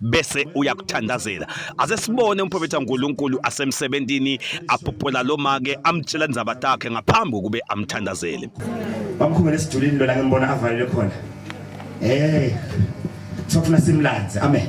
bese uyakuthandazela aze sibone umprofethi kaNkuluNkulu asemsebenzini aphopola lo make amtshela indzaba takhe ngaphambi kube amthandazele bamkhumele esidulini lona ngembona avalele khona eh sofuna simlanze amen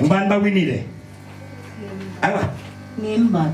ngubani bawinile awa ngimba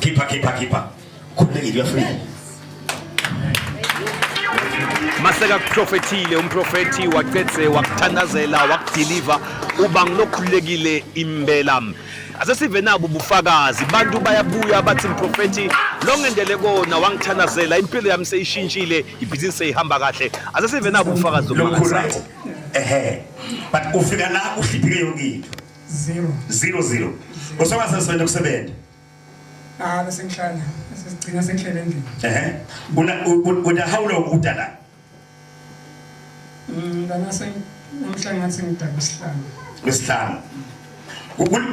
Keeper, keeper, keeper. Khululekile uyafika. Maseka kuprofethile umprofethi wacetse wakuthandazela wakudeliver uba ngilokhululekile impela. Ase sive nabo ubufakazi abantu bayabuya bathi mprofethi lo ngendele kona wangithandazela impilo yami seyishintshile ibhizinisi seyihamba kahle. Ase sive nabo ubufakazi Lo mkhulu right. Ehe. But ufika la uhliphike yonke into. 0 0 0 usonga sesebenza kusebenza ah bese ngihlala sesigcina sengihlele endlini ehe una una how long udala mm ngana sen namhla ngathi ngidala isihlanu isihlanu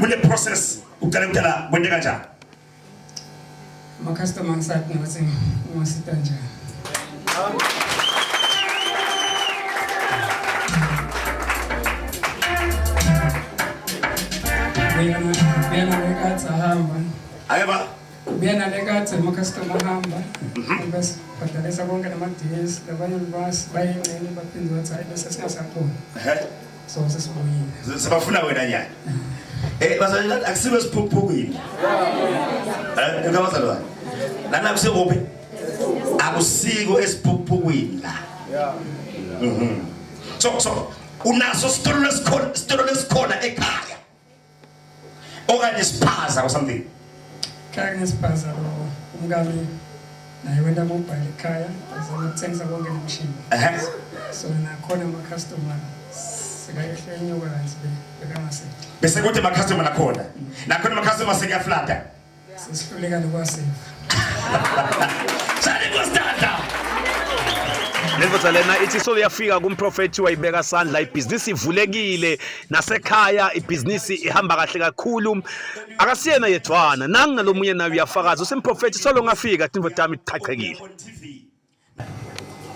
kule process uqale ukudala kwente kanjani Ama-customer angisathi ngathi ungasita njani. Buyena ngekhathi ahamba. Aye ba. Buyena ngekhathi ama-customer ahamba. Mhm. Bese badalisa konke nama-DS, labanye libasi bayengcene baphinde bathi hayi bese singasakhona. So sesibuyile. Sibafuna wena nyanya. Eh bazalwane akusibe siphuphukile. Eh ngeke bazalwane. Lana kusekuphi? Akusiko esiphuphukwini la. Yeah. Mhm. So so unaso sitolo lesikhona sitolo lesikhona ekhaya. okanye siphaza or something khaya ngesiphaza lo umkami naye wena kubhala ekhaya azama ukuthengisa konke nomshini so nakhona ama-customer sekayehla enyuka kanti bekangasethi bese kuthi ama-customer nakhona nakhona ama-customer sekuyaflada Sesihluleka nokwaseva. Shani kostata. Lendoda lena ithi so yafika kumprofethi wayibeka sandla ibhizinisi ivulekile nasekhaya ibhizinisi ihamba kahle kakhulu akasiyena yedwana nangu nalomunye naye uyafakaza usemprofethi solo ngafika tindoda yami iqhaqhekile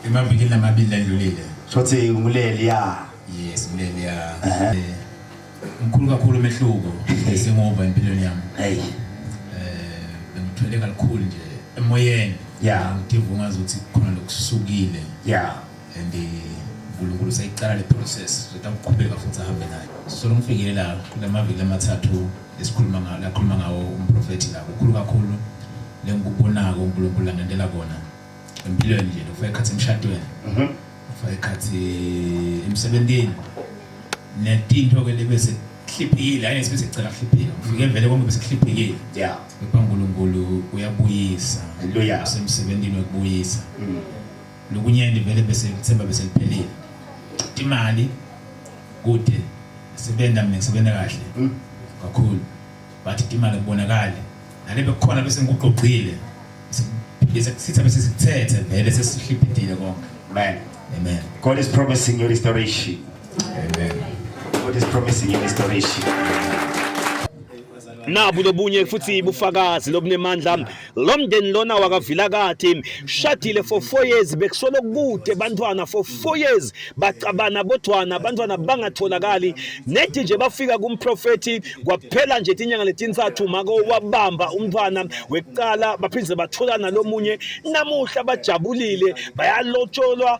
Emavikini amabili ledlulile. Shothi nguleli ya. Yes, nguleli ya. Eh, mkhulu kakhulu umehluko sengova empilweni yami. Hey. Eh, bengithwele kakhulu nje emoyeni. Yeah. Ngidivuma ngazi ukuthi khona lokusukile. Yeah. And eh, uNkulunkulu seyiqala le process sokuqhubeka futhi ahambe nayo so ngifike la kulamaviki amathathu esikhuluma ngawo lakhuluma ngawo umprofethi la kukhulu kakhulu lengikubonako uNkulunkulu langendela kona empilweni nje lokufaka ikhathi emshadweni mhm. ukufaka ikhathi emsebenzini netinto ke lebese hliphile hayi sibese cela hliphile ufike vele konke bese hliphile yeah uNkulunkulu uyabuyisa haleluya usemsebenzini wokubuyisa mm. Lokunyenti vele bese ngithemba bese liphelile. Imali kude sebenza mina ngisebenza kahle hmm. kakhulu but imali kubonakala nale bekukhona bese ngikuqoqile bese kusitha bese sithethe vele sesihliphetile konke amen amen god is promising you restoration amen god is promising you restoration nabu lobunye futhi bufakazi lobunemandla lo mndeni lona wakavilakathi shadile for four years bekusolo kude bantwana for four years bacabana bodwana abantwana bangatholakali nethi nje bafika kumprofethi kwaphela nje tinyanga letintsathu mako wabamba umntwana wekuqala baphinde batholana lomunye namuhla bajabulile bayalotsholwa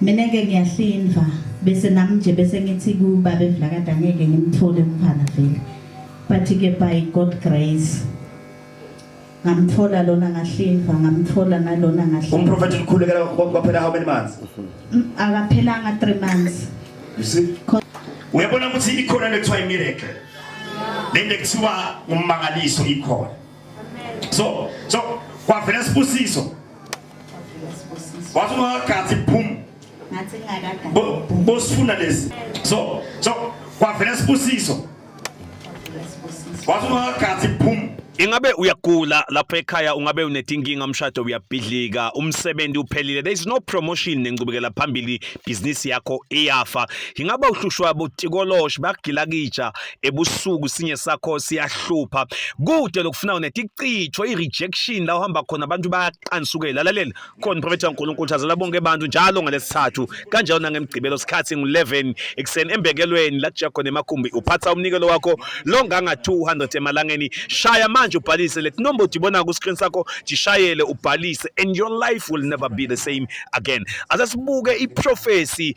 mina ke ngiyahlinva bese nami nje bese ngithi kubabe Vilakade angeke ngimthole umfana vele but ke by God grace ngamthola lona ngahlinva ngamthola nalona ngahlinva umprofeti ukhulekela kwaphela how many months mm, akaphelanga 3 months you see uyabona ukuthi ikhona le kuthiwa imiracle lento ekuthiwa ummangaliso ikhona so so kwavela sibusiso wathi ungakagathi boom bosifuna lesi so so kwavela sibusiso wathi ungakagathi boom Ingabe uyagula lapho ekhaya ungabe unetinkinga umshado uyabhidlika umsebenzi uphelile there is no promotion nencubekela phambili business yakho iyafa ingabe uhlushwa botikoloshe bakugilakija ebusuku sinye sakho siyahlupha kude lokufuna unethi icitshwe i-rejection la uhamba khona abantu bayaqansukela lalela khona uprofethi kaNkulunkulu thazela bonke abantu njalo ngalesithathu kanjalo nangemgcibelo sikhathi ngu-11 ekuseni embekelweni la kuja khona emakhumbi uphatha umnikelo wakho longanga 200 emalangeni shaya manje ubhalise let number udibona ku screen sakho jishayele ubhalise and your life will never be the same again asasibuke i prophecy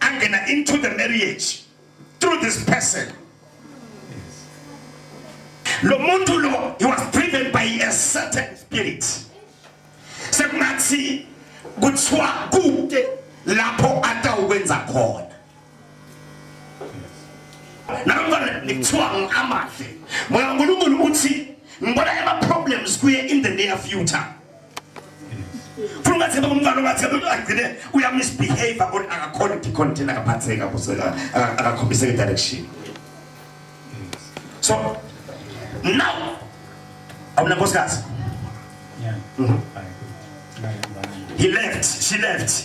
angena into the marriage through this person lo muntu lo he was driven by a certain spirit sekungathi kuthiwa kude lapho atawukwenza khona namfana nikuthiwa ngiamahle moya unkulunkulu uthi ngibona ama-problems kuye in the near future funa ungathemba umntwana ungathemba ukuthi agcine uyamisbehave kodwa akakhona ukucontain akaphatheka akakhombiseka direction so now awunankosikazi yeah. mm -hmm. he left she left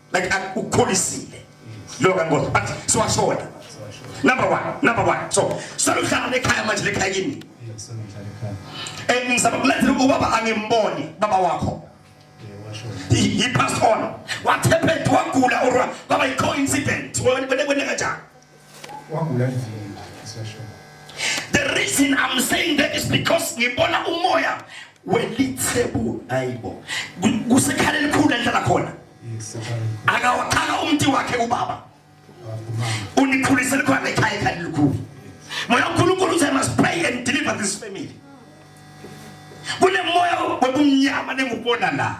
like ukukholisile lo kangozi but siwashona number 1 number 1 so sokuhlala lekhaya manje lekhaya kimi eh ngisaba kulethela ubaba angimboni baba wakho he, he passed on what happened wagula or kwaba i coincidence wena wena kanjani Wagula ndini isesho. The reason I'm saying that is because ngibona umoya welithebu ayibo. Kusekhala elikhulu endlela khona. Akawaqala umnti wakhe ubaba. Unikhulise likhona ekhaya ekhaya elikhulu. Moya uNkulunkulu uthi I must pray and deliver this family. Kunemoya webumnyama nengubona la.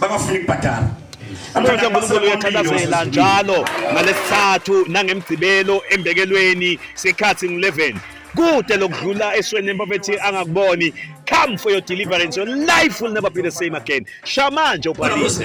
bangafuni kubhadala Umthetho kaNkulunkulu uyaqhakazela njalo ngalesithathu nangemgcibelo embekelweni sikhathi ngu-11 kude lokudlula esweni empofethi angakuboni come for your deliverance your life will never be the same again shamanje ubhalise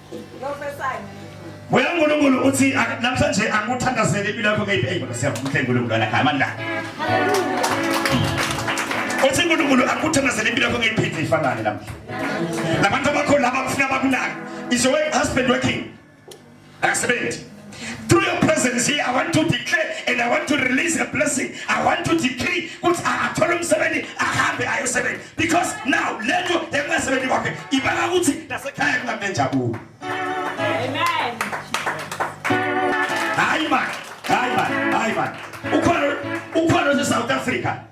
Moya uNkulunkulu uthi namhlanje angikuthandazele impilo yakho ngeyiphi eyibona siyavuka uNkulunkulu ana amandla. Uthi uNkulunkulu akuthandazele impilo yakho ngeyiphi ifanane namhla. Labantu abakho laba kufuna bakunaka. Is your husband working? Akasebenzi. Through your presence here, I want to declare and I want to release a blessing. I want to decree ukuthi akathola umsebenzi ahambe ayosebenza because now lento engasebenzi kwakhe ibanga ukuthi nasekhaya kungabe njabulo. Amen. Hayi man, hayi man, hayi man. Ukhona ukhona South Africa.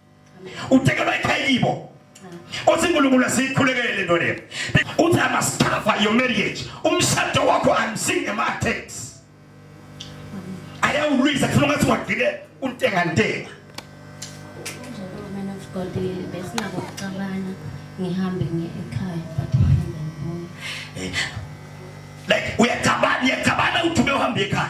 utekelwa ekhaya kibo uthi uNkulunkulu asikhulekele into leyo uthi I must cover your marriage umshado wakho I'm seeing a attacks ayawulwisa kufuna ngathi wagcine untenga ntenga besingabokucabana ngihambe ngiye ekhaya but like uyacabana uyacabana uthi ubehambe ekhaya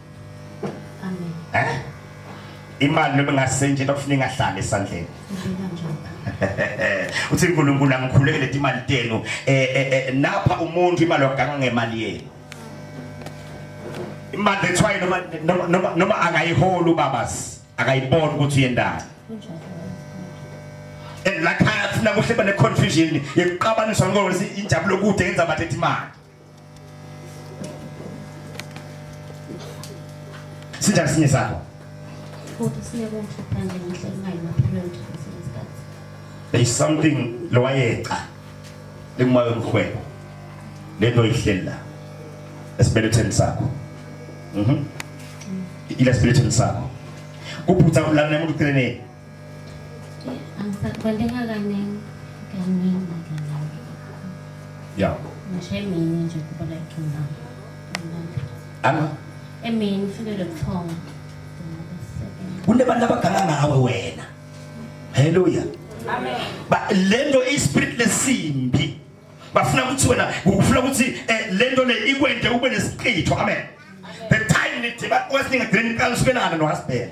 Amen. Eh? Imali noma ngasenje lokufuna ingahlali esandleni. Ngibeka njalo. Uthi uNkulunkulu angikhuleke leti imali tenu. Eh, eh, eh napha umuntu imali waganga ngemali yenu. Imali ethwaye noma noma- noma noma akayiholi ubabas. Akayiboni ukuthi uyendani. Kunjalo. And lakhaya sina kuhle bane confusion yokuqabanisa ngokuthi injabulo kude yenza bathethe imali. Sithathe sinye sakho. Futhi sineke umshophange ngenhla imali maphilweni kwesinye isikhathi. There is something lowayeqa likumayo umhwebo. Lento ihleli la. Esibeletheni sakho. Mhm. Mm. Ila esibeletheni sakho. Kuphutha ulana umuntu uceleni. Angisakubaleka kaningi kaningi kaningi. Ya. Ngisho emini nje kuba like now. Ana? Emini ufike lokuthonga. Kunebantu abaganga ngawe wena. Haleluya. Amen. Ba lento ispirit lesimbi. bafuna ukuthi wena ukufuna ukuthi eh, lento le ikwende ube nesiqitho amen the time nithi bakwesinga green card usibelana no husband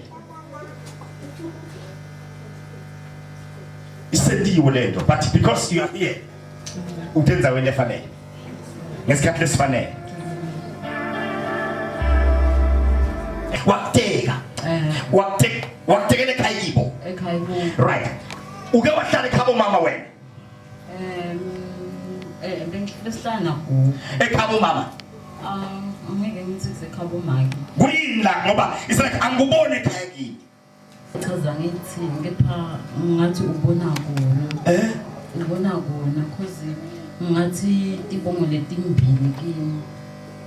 isendiwe lento but because you are here utenza wena efanele ngesikhathi lesifanele wakuteka eh. wakuteka wakutekele ekhaya kibo right uke wahlala ekhabo mama wena Um, eh, bengicela sihlala nagogo. Ekhaba umama. Um, angeke ngithi kusekhaba umaki. Kuyini la ngoba it's like angikuboni ekhaya kimi. Chaza ngithini kepha ngathi ubona kona. Eh? Ubona kona cause ngathi tibongo letimbili kimi.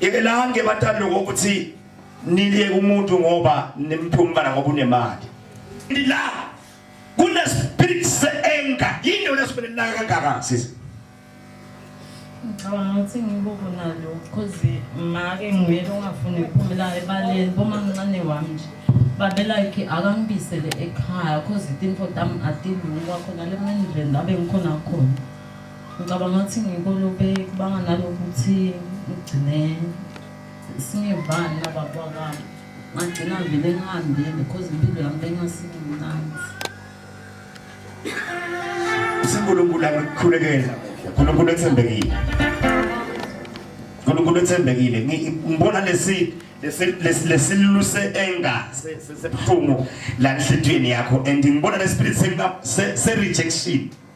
yekelani-ke batali loko ukuthi niliyeke umuntu ngoba nimphuma umntana ngoba unemali la kunespirit se-enga yini yona esibele naka kangaka sisi ngicabanga ukuthi ngibuku nalo cause make nguyena ongafuni ukuphumela ebaleni bomamncane wami nje babe like akangibisele ekhaya cause itinfo tami atilungi kwakhona le mendlela abe ngikhona khona Ngicabanga ukuthi ngikolube kubanga nalokuthi ngigcine singevani nababa wami. Ngagcina vele ngihambile because impilo yami bengasimnandi. uNkulunkulu akukhulekela uNkulunkulu ethembekile uNkulunkulu ethembekile ngibona lesi lesiluse enga sebuhlungu la enhlitiyweni yakho and ngibona lespirithi se rejection